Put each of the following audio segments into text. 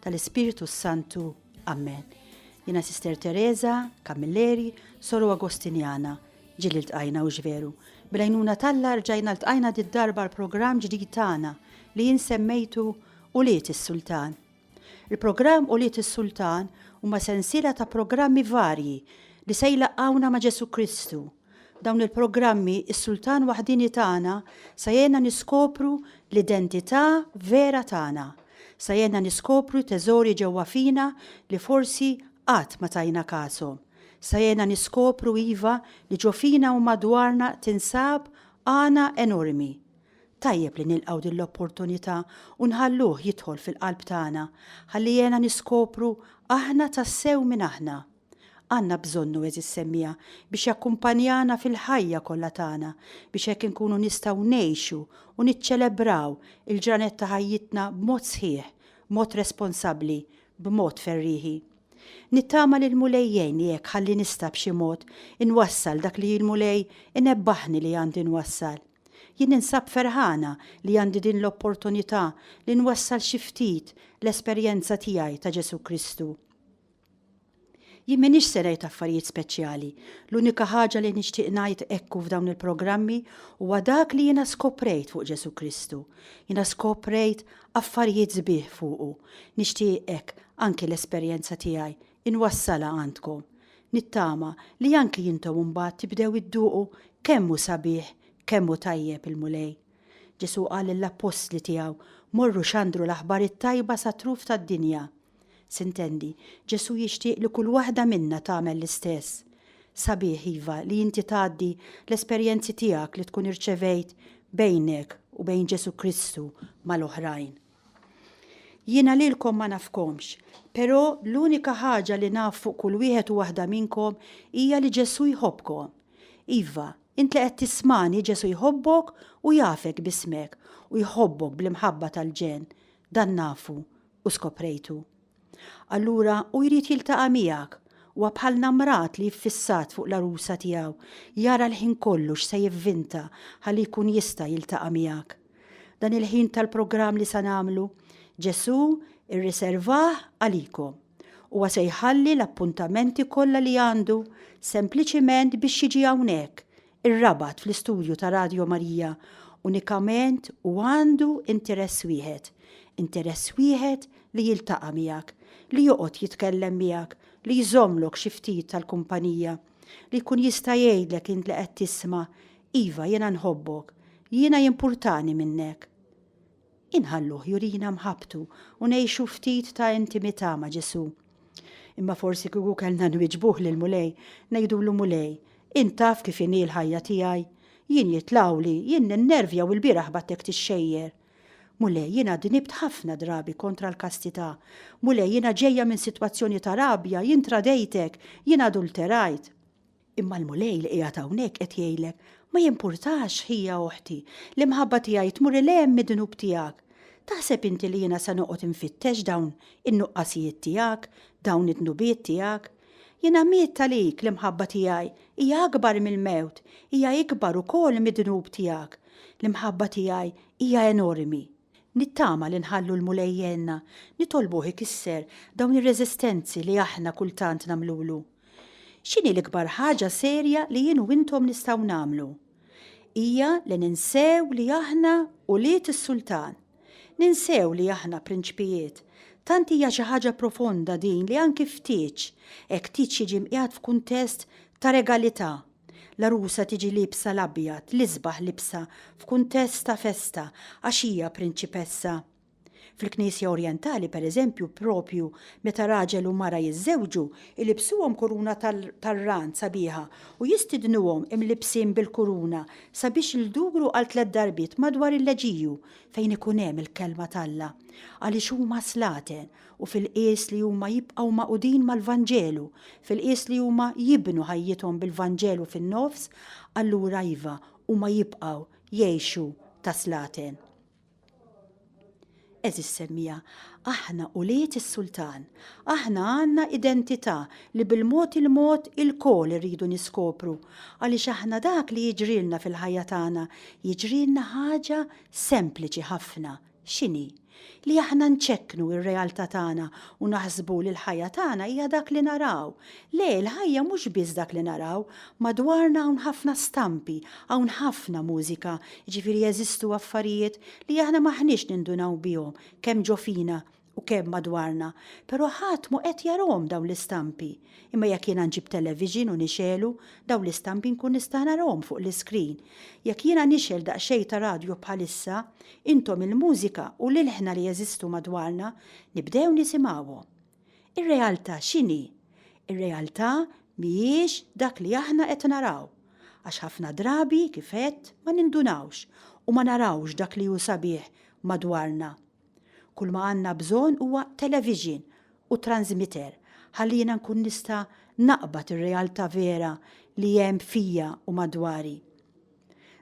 tal-Ispirtu s-Santu. Amen. Jina Sister Teresa, Kamilleri, Soru Agostinjana, ġilli l-tqajna u ġveru. Bilajnuna talla rġajna l-tqajna di darba l-program ġdid tagħna li jinsemmejtu u liet is-sultan. Il-program u liet is-sultan huma sensiela ta' programmi varji li se jlaqgħuna ma' Ġesu Kristu dawn il-programmi, is-Sultan Waħdieni tagħna se jgħinna niskopru l-identità vera tagħna, se jgħinna niskopru teżori ġewwa fina li forsi qatt ma tajna kashom, se jgħinna niskopru iva li ġo fina u madwarna tinsab għana enormi. Tajjeb li nilqgħu din l-opportunità u nħalluh jidħol fil-qalb tagħna ħalli jgħinna niskopru aħna tassew min aħna. Għandna bżonnu, għeżież semmiegħa, biex jakkumpanjana fil-ħajja kollha tagħna, biex hekk inkunu nistgħu ngħixu u niċċelebraw il-ġranet ta' ħajjitna b'mod sħiħ, b'mod responsabbli, b'mod ferrieħi. Nittama li l-Mulej jgħinni hekk ħalli nista' b'xi mod inwassal dak li l-Mulej inebbaħni li għandi nwassal. Jien ninsab ferħana li għandi din l-opportunità li nwassal xi ftit l-esperjenza tiegħi ta' Ġesù Kristu. Jien m'iniex se ngħid affarijiet speċjali, l-unika ħaġa li nixtieq ngħid hekk u f'dawn il-programmi huwa dak li jiena skoprejt fuq Ġesù Kristu. Jiena skoprejt affarijiet sbieħ fuqu. Nixtieq hekk anki l-esperjenza tiegħi inwassalha għandkom. Nittama li anki intom imbagħad tibdew idduqu kemm hu sabiħ, kemm hu tajjeb il-Mulej. Ġesù qal lill-appostli tiegħu, Morru xandru l-aħbar it-tajba sat-truf tad-dinja. S'intendi, Ġesù jixtieq li kull waħda minna tagħmel l-istess. Sabiħ, iva, li inti tgħaddi l-esperjenzi tiegħek li tkun irċevejt bejnek u bejn Ġesù Kristu mal-oħrajn. Jiena lilkom ma nafkomx, però l-unika ħaġa li naf fuq kull wieħed u waħda minnkom hija li Ġesù jħobbkom. Iva, int li qed tismani Ġesù jħobbok u jafek b'ismek u jħobbok bl-imħabba tal-ġenn. Dan nafu, u skoprejtu. Allura hu jrid jiltaqa' miegħek. Huwa bħal namrat li iffissat fuq l-għarusa tiegħu, jara l-ħin kollu x'se jivvinta ħalli jkun jista' jiltaqa' miegħek. Dan il-ħin tal-programm li se nagħmlu, Ġesù irriservah għalikom. Huwa se jħalli l-appuntamenti kollha li għandu sempliċiment biex jiġi hawnhekk, Ir-rabat fl-istudju ta' Radio Marija unikament u għandu interess wieħed, interess wieħed li jiltaqa' miegħek, li joqgħod jitkellem miegħek, li jżommlok xi ftit tal-kumpanija, li jkun jista' jgħidlek int li qed tisma', Iva jiena nħobbok, jiena jimpurtani minnek. Inħalluh jurina mħabbtu u ngħixu ftit ta' intimità ma' Ġesù. Imma forsi kieku kellna nwieġbuh lill-Mulej, ngħidulu, Mulej, int taf kif inhi l-ħajja tiegħi. Jien jitlgħuli, jien ninnervja u lbieraħ b'għattek tixxejjer. Mulej, jiena dnibt ħafna drabi kontra l-kastità. Mulej, jiena ġejja minn sitwazzjoni ta' rabja, jien tradejtek, jien adulterajt. Imma l-Mulej li qiegħed hawnhekk qed jgħidlek, ma jimpurtax, ħija oħti, l-imħabba tiegħi tmur 'il hemm mid-dnub tiegħek. Taħseb inti li jiena se noqgħod infittex dawn in-nuqqasijiet tiegħek, dawn id-dnubiet tiegħek? Jiena miet għalik, l-imħabba tiegħi hija akbar mill-mewt, hija ikbar ukoll mid-dnub tiegħek. L-imħabba tiegħi hija enormi. Nittama li nħallu l-Mulej jgħinna, nitolbuh ikisser dawn ir-reżistenzi li aħna kultant nagħmlulu. X'inhi l-ikbar ħaġa serja li jien u intom nistgħu nagħmlu? Hija li ninsew li aħna ulied is-Sultan. Ninsew li aħna prinċpijiet. Tant hija xi ħaġa profonda din li anki f'tieġ, hekk tieġ jiġi mqiegħed f'kuntest ta' regalità. L-għarusa tiġi liebsa l-abjad, l-isbaħ libsha f'kuntest ta' festa għax hija prinċipessa. Fil-Knisja Orjentali, pereżempju, proprju meta raġel u mara jiżżewġu, ilibsuhom kuruna tar-rand sabiħa u jistidnuhom imlibbsin bil-kuruna sabiex ldugru għal tliet darbiet madwar il-leġiju fejn ikun hemm il-Kelma t'Alla, għaliex huma slaten u fil-qies li huma jibqgħu magħqudin mal-Vanġelu, fil-qies li huma jibnu ħajjithom bil-Vanġelu fin-nofs, allura iva, huma jibqgħu jgħixu ta' slaten. Eżis semmija, aħna ulied is-Sultan. Aħna għandna identità li bil-mod il-mod ilkoll irridu niskopru, għaliex aħna dak li jiġrilna fil-ħajja tagħna jiġrilna ħaġa sempliċi ħafna, x'inhi? Li aħna nċekknu r-realtà tagħna u naħsbu li l-ħajja tagħna hija dak li naraw, Le, il-ħajja mhux biss dak li naraw. Madwarna hawn ħafna stampi, hawn ħafna mużika, jiġifieri jeżistu affarijiet li aħna m'aħniex nindunaw bihom, kemm ġo fina u kemm madwarna. Però ħadd mhu qed jarahom dawn l-istampi. Imma jekk jiena nġib television u nixegħlu, dawn l-istampi nkun nista' narahom fuq l-iscreen. Jekk jiena nixgħel daqsxejn ta' radju bħalissa, intom il-mużika u l-ilħna li jeżistu madwarna, nibdew nisimgħuhom. Ir-realtà x'inhi? Ir-realtà mhijiex dak li aħna qed naraw. Għax ħafna drabi, kif għedt, ma nindunawx u ma narawx dak li hu sabiħ madwarna. Kull ma għandna bżonn huwa televixin u transmitter ħalli jiena nkun nista' naqbad ir-realtà vera li hemm fija u madwari.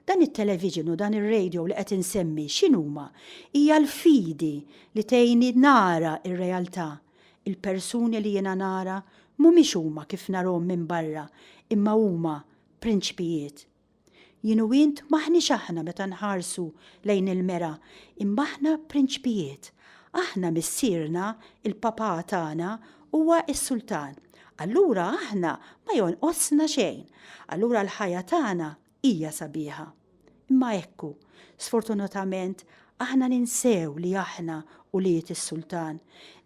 Dan it-television u dan ir-radio li qed insemmi x'inhuma? Hija l-fidi li tgħinni nara r-realtà. Il-persuni li jiena nara mhumiex huma kif narhom minn barra imma huma prinċpijiet. Jien u int m'aħniex aħna meta nħarsu lejn il-mera imma aħna prinċpijiet. Aħna Missierna, il-Papà tagħna, huwa s-Sultan. Allura aħna ma jonqosna xejn. Allura l-ħajja tagħna hija sabiħa. Imma ekku, sfortunatament, aħna ninsew li aħna ulied is-Sultan.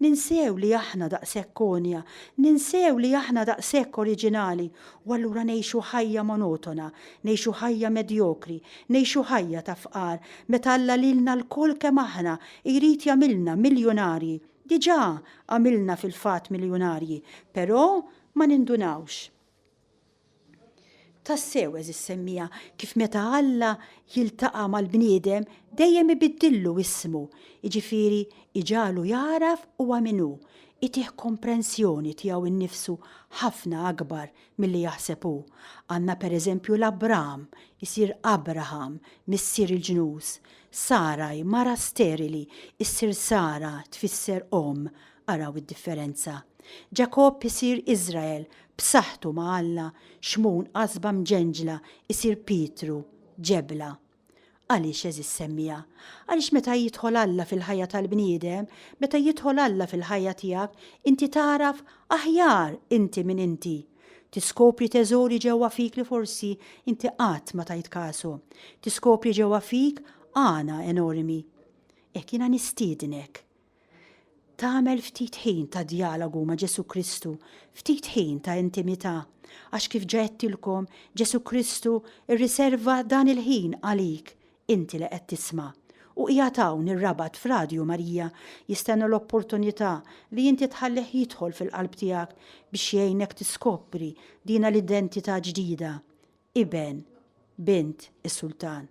Ninsew li aħna daqshekk konja, ninsew li aħna daqshekk oriġinali u allura ngħixu ħajja monotona, ngħixu ħajja medjokri, ngħixu ħajja ta' fqar meta Alla lilna lkoll kemm aħna jrid jagħmilna miljunarji Diġà għamilna fil-fatt miljunarji, però ma nindunawx. Tassew, għeżież semmiegħa, kif meta Alla jiltaqa' mal-bniedem dejjem ibiddillu ismu, jiġifieri jġagħlu jagħraf huwa min hu, itih komprensjoni tiegħu nnifsu ħafna akbar milli jaħseb hu. Għandna pereżempju 'l Abraham, isir Abraham, missier il-ġnus, Sarai, mara sterili, issir Sara, tfisser omm, araw id-differenza. Ġakobb isir Iżrael, b'saħħtu ma' Alla, xmun qasba mġenġla, isir Pietru, ġebla. Għaliex, għeżież semmiegħa? Għaliex meta jidħol Alla fil-ħajja tal-bniedem, meta jidħol Alla fil-ħajja tiegħek, inti tagħraf aħjar inti min inti. Tiskopri teżori ġewwa fik li forsi inti qatt ma tajt kasu. Tiskopri ġewwa fik għana enormi. Hekk jiena nistiednek Tagħmel ftit ħin ta' djalogu ma' Ġesu Kristu, ftit ħin ta' intimità, għax kif ġaettilkom Ġesu Kristu rriserva dan il-ħin għalik, inti li qed tisma'. U qiegħed hawn ir-Rabat f'Radju Marija jistenna l-opportunità li inti tħallih jidħol fil-qalb tiegħek biex jgħinek tiskopri dina l-identità ġdida, iben, bint is-Sultan.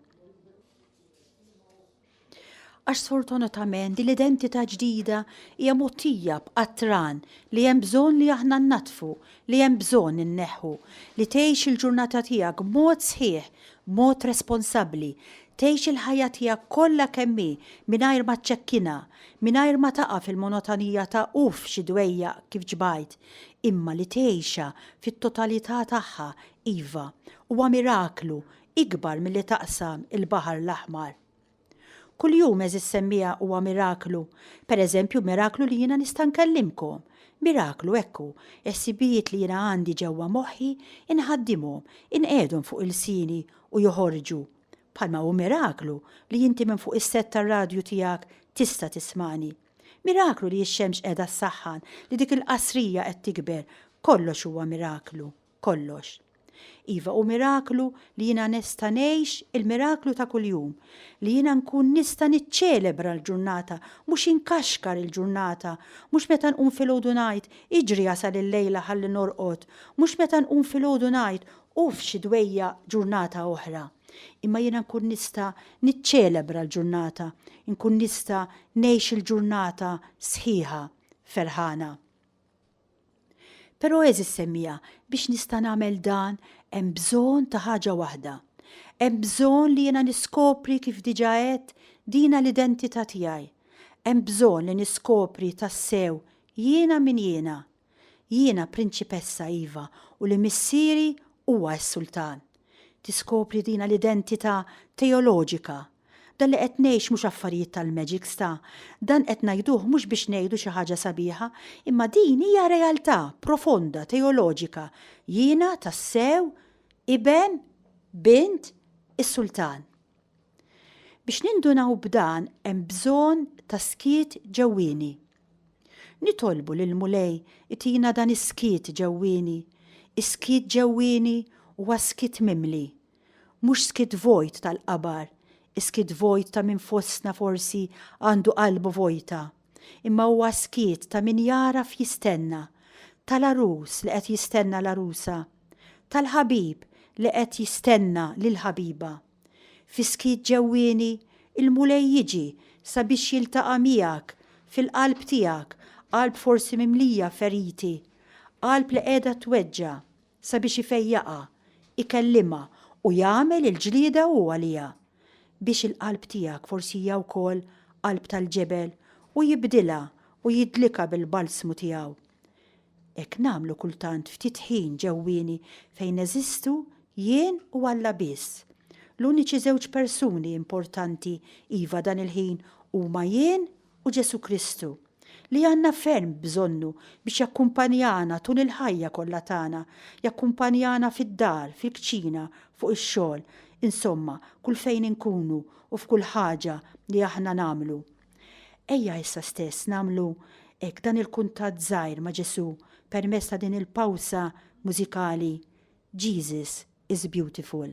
Għax sfortunatament din l-identità ġdida hija mogħtija b'qatran li hemm bżonn li aħna nnaddfu, li hemm bżonn inneħħu. Li tgħix il-ġurnata tiegħek b'mod sħiħ, b'mod responsabbli. Tgħix il-ħajja tiegħek kollha kemm hi mingħajr ma ċċekkinha, mingħajr ma taqa' fil-monotonija ta' uff xi dwejjaq kif ġbajt, imma li tgħixha fit-totalità tagħha, iva, huwa miraklu, ikbar milli taqsam il-Baħar l-Aħmar. Kuljum, għeżież semmiegħa, huwa miraklu. Pereżempju, miraklu li jiena nista' nkellimkom. Miraklu, hekk hu, ħsibijiet li jiena għandi ġewwa moħħi, inħaddimhom, inqegħedhom fuq ilsieni u joħorġu. Bħalma hu miraklu li inti minn fuq is-sett tar-radju tiegħek tista' tismagħni. Miraklu li x-xemx qiegħda ssaħħan, li dik il-qasrija qed tikber, kollox huwa miraklu. kollox. Iva, hu miraklu li jiena nesta' ngħix il-miraklu ta' kuljum, li jiena nkun nista' niċċelebra l-ġurnata, mhux inkaxkar il-ġurnata, mhux meta nqum filgħodu ngħid, iġri jasal il-lejla ħalli norqod, mhux meta nqum filgħodu ngħid, uff xi dwejjaq ġurnata oħra. Imma jiena nkun nista' niċċelebra l-ġurnata, inkun nista' ngħix il-ġurnata sħiħa ferħana. Però għeżież semmiegħa, biex nista' nagħmel dan hemm bżonn ta' ħaġa waħda. Hemm bżonn li jiena niskopri kif diġà għedt, dina l-identità tiegħi. Hemm bżonn li niskopri tassew jiena min jiena. Jiena prinċipessa, iva, u li Missieri huwa s-Sultan. Tiskopri dina l-identità teoloġika, Dan li qed ngħix mhux affarijiet tal-magic sta. Dan qed ngħiduh mhux biex ngħidu xi ħaġa sabiħa, imma din hija realtà profonda teoloġika, jiena tassew iben, bint, is-Sultan. Biex nindunaw b'dan hemm bżonn ta' skiet ġewwieni. Nitolbu lill-Mulej itina dan is-skiet ġewwieni. Is-skiet ġewwieni huwa skiet mimli Mhux skiet vojt tal-qabar, iskiet vojt ta' min fostna forsi għandu qalbu vojta, imma huwa skiet ta' min jagħraf jistenna, tal-għarus li qed jistenna l-għarusa, tal-ħabib li qed jistenna lill-ħabiba. Fi skiet ġewwieni, il-Mulej jiġi sabiex jiltaqa' miegħek fil-qalb tiegħek, qalb forsi mimlija feriti, qalb li qiegħda tweġġa'. sabiex ifejjaqha, ikellimha u jagħmel il-ġlieda hu għaliha, biex il-qalb tiegħek forsi hija wkoll qalb tal-ġebel, u jibdilha u jidlikha bil-balsmu tiegħu. Hekk nagħmlu kultant ftit ħin ġewwieni fejn neżistu jien u Alla biss. L-uniċi żewġ persuni importanti iva dan il-ħin huma jien u Ġesù Kristu, li għandna ferm bżonnu biex jakkumpanjana tul il-ħajja kollha tagħna, jakkumpanjana fid-dar, fil-kċina, fuq ix-xogħol, insomma, kull fejn inkunu u f'kull ħaġa li aħna nagħmlu. Ejja issa stess nagħmlu hekk dan il-kuntatt żgħir ma' Ġesù permezz ta' din il-pawsa mużikali Jesus is Beautiful.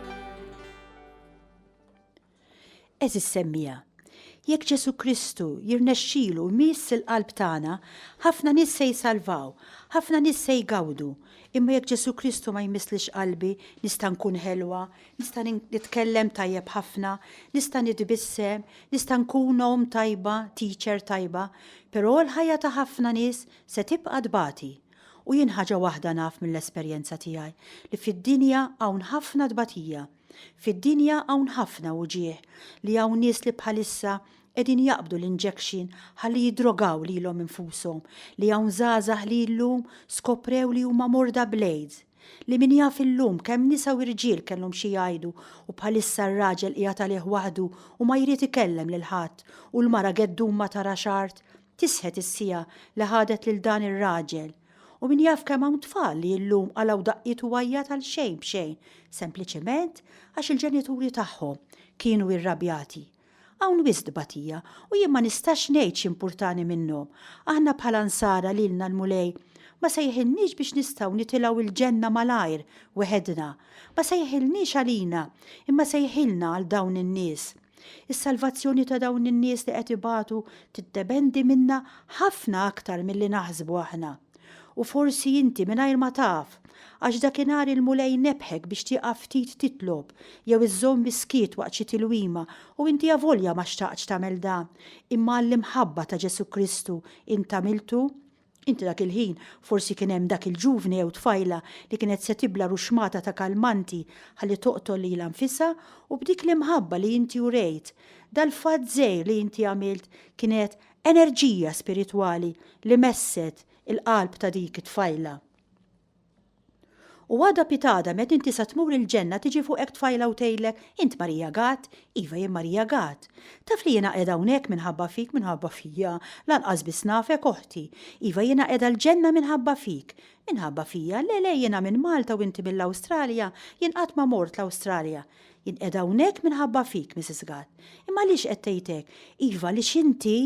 Eżis semmija, jekk Ġesu Kristu jirnexxilu miss il-qalb tagħna, ħafna nies se jsalvaw, ħafna nies se jgawdu. Imma jekk Ġesu Kristu ma jmisslix qalbi, nista' nkun ħelwa, nista' nitkellem tajjeb ħafna, nista' nitbissem, nista' nkun omm tajba, teacher tajba, però l-ħajja ta' ħafna nies se tibqa' tbati. U jien ħaġa waħda naf mill-esperjenza tiegħi, li fid-dinja hawn ħafna tbatija. Fid-dinja hawn ħafna wġigħ, li hawn nies li bħalissa qegħdin jaqbdu l-injection ħalli jiddrogaw lilhom infushom, li hawn żgħażagħ li llum skoprew li huma morda bl-AIDS, li min jaf illum kemm nisa u rġiel kellhom xi jgħidu u bħalissa r-raġel qiegħed għalih waħdu u ma jrid ikellem lil ħadd u l-mara geddum ma tarax art Tisħet is-siegħa li ħadet lil dan ir-raġel u min jaf kemm hawn tfal li illum qalgħu daqqiet u għajjat għal xejn b'xejn sempliċement għax il-ġenituri tagħhom kienu irrabjati. Hawn wisq tbatija u jien ma nistax ngħid x'impurtani minnhom. Aħna bħala Nsara lilna l-Mulej ma sejħilniex biex nistgħu nitilgħu il-ġenna malajr weħedna. Ma sejħilniex għalina imma sejħilna għal dawn in-nies. Is-salvazzjoni ta' dawn in-nies li qed ibatu tiddependi minna ħafna aktar milli naħsbu aħna. U forsi inti mingħajr ma taf, għax dakinhar il-Mulej nebbħek biex tieqaf ftit titlob jew iżżomm is-skiet waqt xi tilwima u inti avolja ma xtaqtx tagħmel dan, imma għall-imħabba ta' Ġesù Kristu int għamiltu. Inti dak il-ħin forsi kien hemm dak il-ġuvni jew tfajla li kienet se tibla' ruxmata ta' kalmanti ħalli toqtol lilha nfisha u b'dik l-imħabba li inti urejt, dal-fatt żgħir li inti għamilt kienet enerġija spiritwali li messet il-qalb ta' dik it-tfajla. U għada pitada met inti sa tmur il-ġenna tiġi fuqek tfajla u tgħidlek, int Marija Gad? Iva jien Marija Gad. Taf li jiena qiegħda hawnhekk minħabba fik, minħabba fija, lanqas biss nafek oħti. Iva jiena qiegħda l-ġenna minħabba fik. Minħabba fija? Le le jiena minn Malta u inti mill-Awstralja, jien qatt ma mort l-Awstralja. Jien qiegħda hawnhekk minħabba fik, Mrs. Gatt. Imma għaliex qed tgħid hekk? Iva, għaliex inti,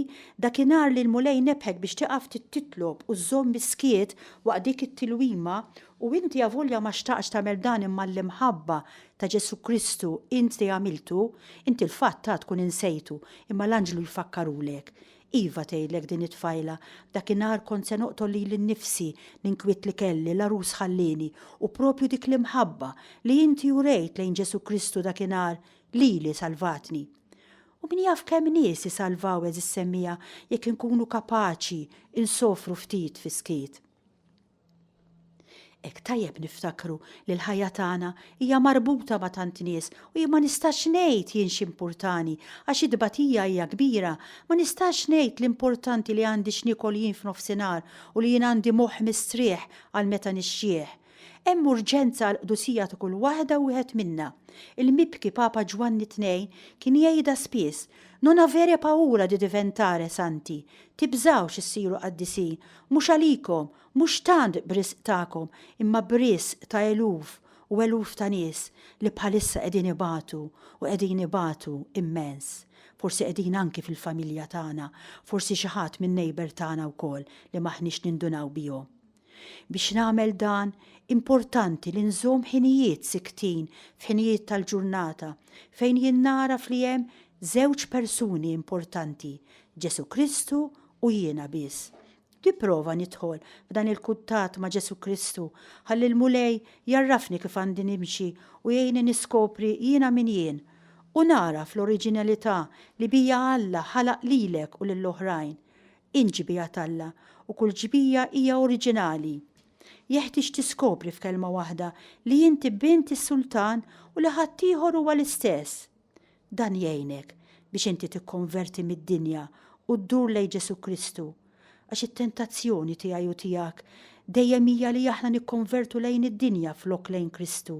dakinhar li l-Mulej nebħek biex tieqaf titlob u żżomm is-skiet waqt dik it-tilwima, u inti avolja ma xtaqtx tagħmel dan imma għall-imħabba ta' Ġesù Kristu inti għamiltu, inti l-fatt għad tkun insejtu, imma l-anġlu jfakkarulek. Iva, tgħidlek din it-tfajla, dakinhar kont se noqtol lili nnifsi, l-inkwiet li kelli, l-għarus ħallieni, u proprju dik l-imħabba, li inti urejt lejn Ġesù Kristu dakinhar, lili salvatni. U min jaf kemm nies isalvaw għeżis semmija jekk inkunu kapaċi insofru ftit fis-skiet. Hekk tajjeb niftakru li l-ħajja tagħna hija marbuta ma' tant nies u jien ma nistax ngħid jien x'importani għax it-tbatija hija kbira, ma nistax ngħid l-importanti li għandi x'niekol jien f'nofsinhar u li jien għandi moħħ mistrieħ għal meta nixjieħ. Hemm urġenza għall-qdusija ta' kull waħda u wieħed minna. Il-mibki Papa Ġwanni Tnejn kien jgħidha spiss, Non avere paura di diventare santi, tibżgħux issiru qaddisin Mhux għalikom, mhux tant b'risq tagħkom, imma b'risq ta' eluf u eluf ta' nies li bħalissa qegħdin ibatu u qegħdin ibatu immens. Forsi qegħdin anki fil-familja tagħna, forsi xi ħadd min-neighbour tagħna wkoll li m'aħniex nindunaw bihom. Biex nagħmel dan, importanti li nżomm ħinijiet siktin f'ħinijiet tal-ġurnata fejn jien nagħraf li hemm żewġ persuni importanti, Ġesù Kristu u jiena biss, nipprova nidħol f'dan il-kuntatt ma' Ġesù Kristu ħalli l-Mulej jgħarrafni kif għandi nimxi u jgħinni niskopri jiena min jien u nagħraf l-oriġinalità li bija Alla ħalaq lilek u lill-oħrajn. Int ġbija t'Alla u kull ġbija hija oriġinali. Jeħtieġ tiskopri f'kelma waħda li inti bint is-Sultan u li ħaddieħor huwa l-istess. Dan jgħinek biex inti tikkonverti mid-dinja u ddur lejn Ġesù Kristu, għax it-tentazzjoni tiegħi u tiegħek dejjem hija li aħna nikkonvertu lejn id-dinja flok lejn Kristu.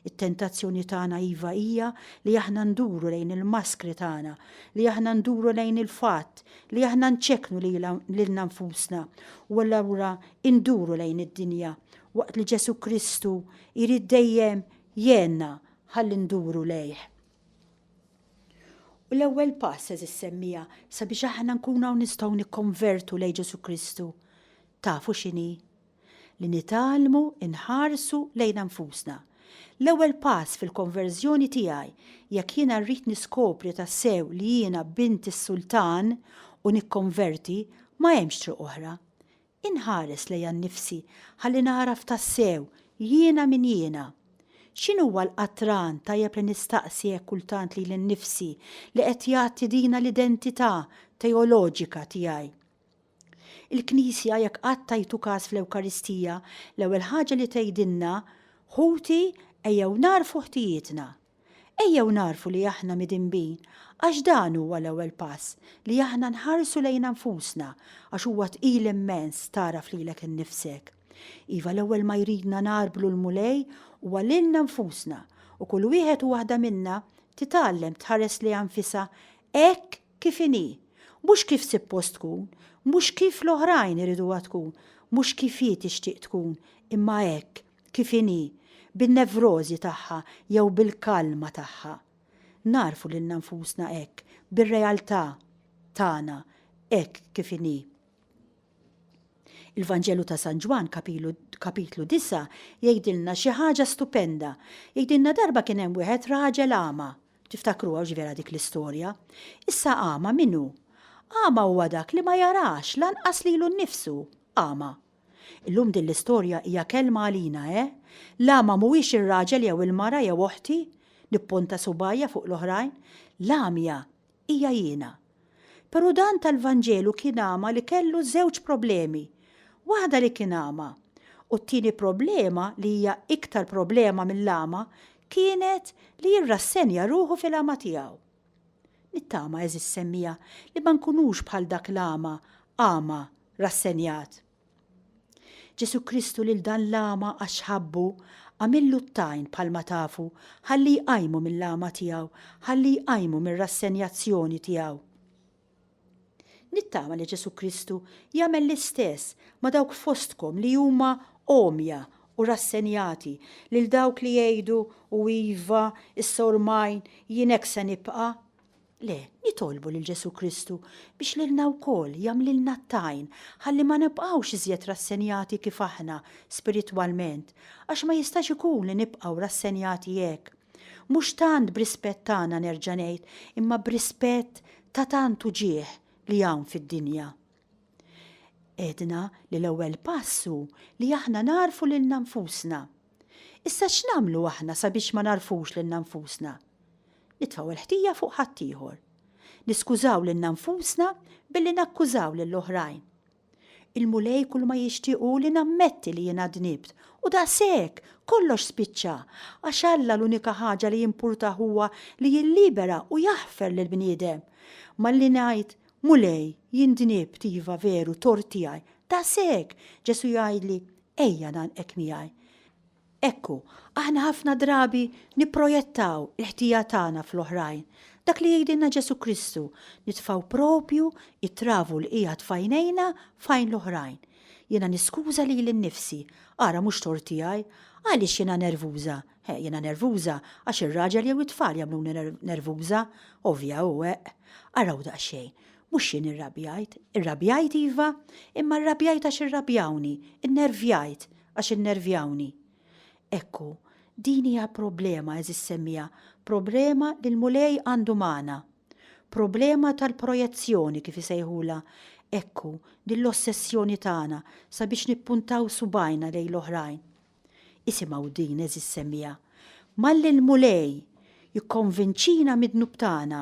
It-tentazzjoni tagħna iva hija li aħna nduru lejn il-maskri tagħna, li aħna nduru lejn il-fatt li aħna nċekknu lilna nfusna u allura nduru lejn id-dinja, waqt li Ġesù Kristu jrid dejjem jgħinna Ħalli nduru lejh. U l-ewwel pass, għeżież semmiegħa, sabiex aħna nkunu hawn nistgħu nikkonvertu lejn Ġesù Kristu, tafu x'inhi? Li nitgħallmu nħarsu lejna nfusna. L-ewwel pass fil-konverżjoni tiegħi, jekk jiena rrid niskopri tassew li jiena bint is-Sultan u nikkonverti, ma hemmx triq oħra. Inħares lejha nnifsi ħalli nagħraf tassew jiena min jiena. X'inhuwa l-qatran tajjeb li nistaqsi hekk kultant lili nnifsi li qed jgħatti dina l-identità teoloġika tiegħi? Il-Knisja, jekk qatt tajtu każ fl-Ewkaristija, l-ewwel ħaġa li tgħidilna, Ħuti, ejjew nagħrfu ħtijietna. Ejjew nagħrfu li aħna midinbin għax dan huwa l-ewwel pass li aħna nħarsu lejna nfusna għax huwa tqil immens tagħraf lilek innifsek. Iva l-ewwel ma jridna ngħarblu l-Mulej huwa lilna nfusna u kull wieħed u waħda minna titgħallem tħares lejha nfisha hekk kif inhi, mhux kif sippost tkun, mhux kif l-oħrajn iriduha tkun, mhux kif hi tixtieq tkun imma hekk kif inhi, bin-nevrożi tagħha jew bil-kalma tagħha. Nagħrfu lilna nfusna hekk, bir-realtà tagħna hekk kif inhi. Il-Vanġelu ta' San Ġwann, kapitlu disa', jgħidilna xi ħaġa stupenda. Jgħidilna darba kien hemm wieħed raġel agħma. Tiftakruha hux vera dik l-istorja? Issa agħma min hu? Agħma huwa dak li ma jarax lanqas lilu nnifsu, agħma. Illum din l-istorja hija kelma għalina, eh? L-agħma mhuwiex ir-raġel jew il-mara jew oħti, nippunta subgħajja fuq l-oħrajn, l-għamja hija jiena. Però dan tal-Vanġelu kien agħma li kellu żewġ problemi, waħda li kien agħma, u t-tieni problema li hija iktar problema mill-agħma kienet li jirrassenja ruħu fil-għama tiegħu. Nittama, għeżież semmiegħa, li ma nkunux bħal dak l-agħma, agħma, rassenjat. Ġesù Kristu lil dan l-agħma għax ħabbu, għamillu t-tajn bħalma tafu, ħalli jqajmu mill-agħma tiegħu, ħalli jqajmu mir-rassenjazzjoni tiegħu. Nittama li Ġesù Kristu jagħmel l-istess ma' dawk fostkom li huma għomja u rassenjati, lil dawk li jgħidu, U iva, issa ormai jien hekk se nibqa'. Le, nitolbu lil Ġesù Kristu biex lilna wkoll jagħmlilna t-tajn ħalli ma nibqgħux iżjed rassenjati kif aħna spiritwalment, għax ma jistax ikun li nibqgħu rassenjati hekk. Mhux tant b'rispett tagħna nerġa' ngħid, imma b'rispett ta' tant uġigħ li hawn fid-dinja. Għedna li l-ewwel pass hu li aħna nagħrfu lilna nfusna. Issa x'nagħmlu aħna sabiex ma nagħrfux lilna nfusna? Nitfgħu l-ħtija fuq ħaddieħor. Niskużaw lilna nfusna billi nakkużaw lill-oħrajn. Il-Mulej kulma jixtieq hu li nammetti li jiena dnibt, u daqshekk, kollox spiċċa, għax Alla l-unika ħaġa li jimpurtah huwa li jillibera u jaħfer lill-bniedem. Malli ngħid, Mulej, jien dnibt, iva, veru, tort tiegħi, daqshekk, Ġesù jgħidli, Ejja ngħannqek miegħi. Ekku, aħna ħafna drabi nipprojettaw il-ħtija tagħna fl-oħrajn. Dak li jgħidilna Ġesù Kristu, nitfgħu proprju t-travu li qiegħed f'għajnejna f'għajn l-oħrajn. Jiena niskuża lili nnifsi, ara mhux tort tiegħi. Għaliex jiena nervuża? Ħe, jiena nervuża għax ir-raġel jew it-tfal jagħmluni nervuża, ovvja u eqq. Araw daqsxejn, mhux jien irrabjajt, irrabjajt iva, imma rrabjajt għax irrabjawni, innervjajt, għax innervjawni. Hekk hu, din hija problema, għeżież semmiegħa, problema li l-Mulej għandu magħna. Problema tal-projezzjoni, kif isejħulha. Hekk hu, din l-ossessjoni tagħna sabiex nippuntaw subgħajna lejn l-oħrajn. Isimgħu din, għeżież semmiegħa, Malli l-Mulej Jikkonvinċina mid-dnub tagħna,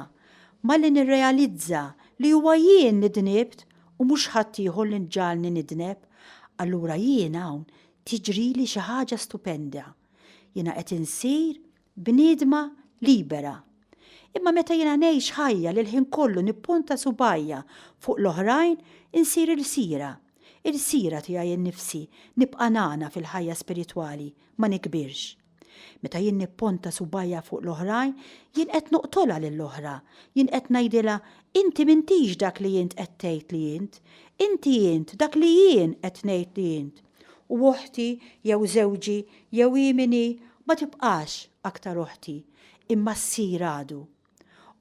malli nirrealizza li huwa jien li dnibt u mhux ħaddieħor li ġagħalni nidneb, allura jien hawn tiġrili xi ħaġa stupenda. Jiena qed insir bniedma libera. Imma meta jiena ngħix ħajja li l-ħin kollu nippunta subgħajja fuq l-oħrajn, insir ilsira. Ilsira tiegħi nnifsi nibqa' nagħna fil-ħajja spiritwali, ma nikbirx. Meta jien nipponta subajja fuq l-oħrajn, jien qed noqtolha lill-oħra, jien qed ngħidilha, inti m'intix dak li int qed tgħid li int, inti int dak li jien qed ngħid li int. U oħti jew żewġi jew hi min hi ma tibqax aktar oħti, imma ssir għadu.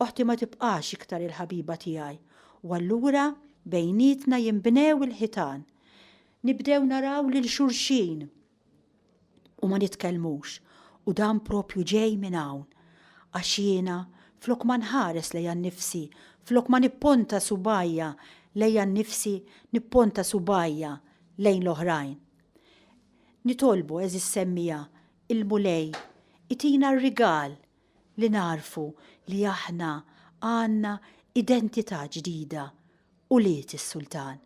Oħti ma tibqax iktar il-ħabiba tiegħi, u allura bejnietna jinbnew il-ħitan. Nibdew naraw lil xulxin. u ma nitkellmux u dan proprju ġej minn hawn għax jiena flok ma nħares lejha nnifsi, flok ma nipponta subgħajja lejha nnifsi nipponta subgħajja lejn l-oħrajn. Nitolbu għeżież semmiegħa il-Mulej itina r-rigal li nagħrfu li aħna għandna identità ġdida, ulied is-Sultan.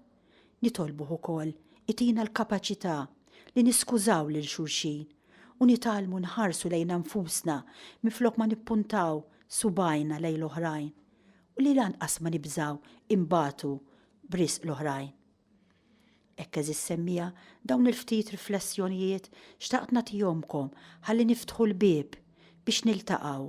Nitolbuh ukoll itina l-kapaċità li niskużaw lil xulxin u nitgħallmu nħarsu lejna nfusna minflok ma nippuntaw subgħajna lejn l-oħrajn u li lanqas ma nibżgħu nbatu b'riżq l-oħrajn. Hekk għeżież semmiegħa dawn il-ftit riflessjonijiet xtaqt nagħtihomkom ħalli niftħu l-bieb biex niltaqgħu